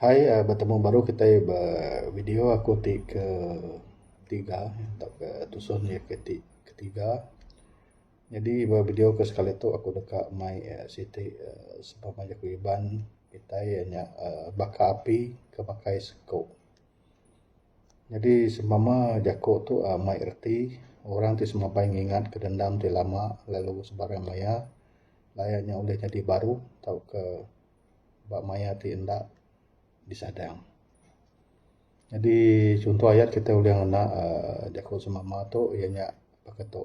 Hai uhh betemu baru kitai ba video aku ti ke tiga tau ke tusun iya ke ti ketiga. Nyadi ba video ke sekali tu aku deka mai uhh siti uhh sebab meh aku ngiban kitai uhh nya uhh baka api ke makai seko. Nyadi sempama jaku tu uhh mai reti orang ti semabai ngingat ka dendam ti lama lalu sebarang maya lalu aye nya ulih nyadi baru tauka ba maya ti enda disadang. Nyadi chunto aye kita ulih ngena uhh jaku sempama tu iye nya baka tu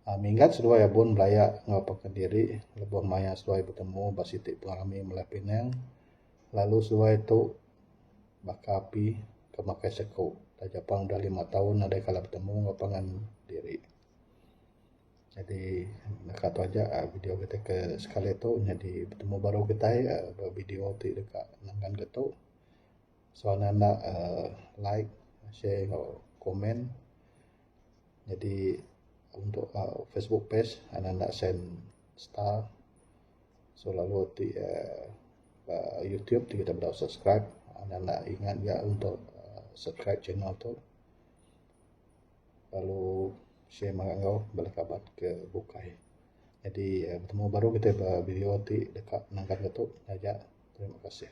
uhh minggat seduai abun belaya enggau paka diri lebuh maya seduai betemu ba siti pengerami mele pinang lalu seduai tu. baka api ke makai seku taja pun udah lima taun nadai kala betemu enggau pangan diri. Jadi naka tu aja video kita ke sekali tu nyadi betemu baru kitai ba video ti deka nenggan ke tu. So anda enda uhh like share enggau komen nyadi untuk uhh facebook page anda enda send star. So lalu ti uhh youtube ti kita dog subscribe nan enda ingat ga dog subscribe channel to lalu share mega enggau bala kaban ke bukai. Jadi betemu baru kita ba video ti deka nenggang atu. Taja terima kasih.